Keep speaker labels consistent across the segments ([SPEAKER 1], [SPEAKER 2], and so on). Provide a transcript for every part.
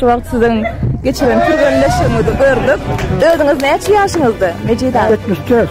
[SPEAKER 1] Şu wagt siziň geçiren türgenleşigiňizi gördük. Özüňiz näçe ýaşyňyzda, Mejit aga? Ýetmiş dört.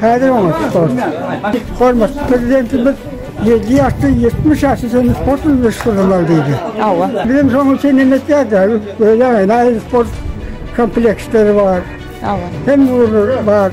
[SPEAKER 2] Häzir oňa sport. Hormatly Prezidentimiz ýedi ýaşdan ýetmiş ýaşa çenli sport bilen meşgullanmaly diýdi. Hawa. Biz hem
[SPEAKER 1] şonuň üçin hem
[SPEAKER 2] etýäris häzir. Öýle aýry-aýry sport kompleksleri bar. Hawa. Hemme
[SPEAKER 1] ugurlar
[SPEAKER 2] bar.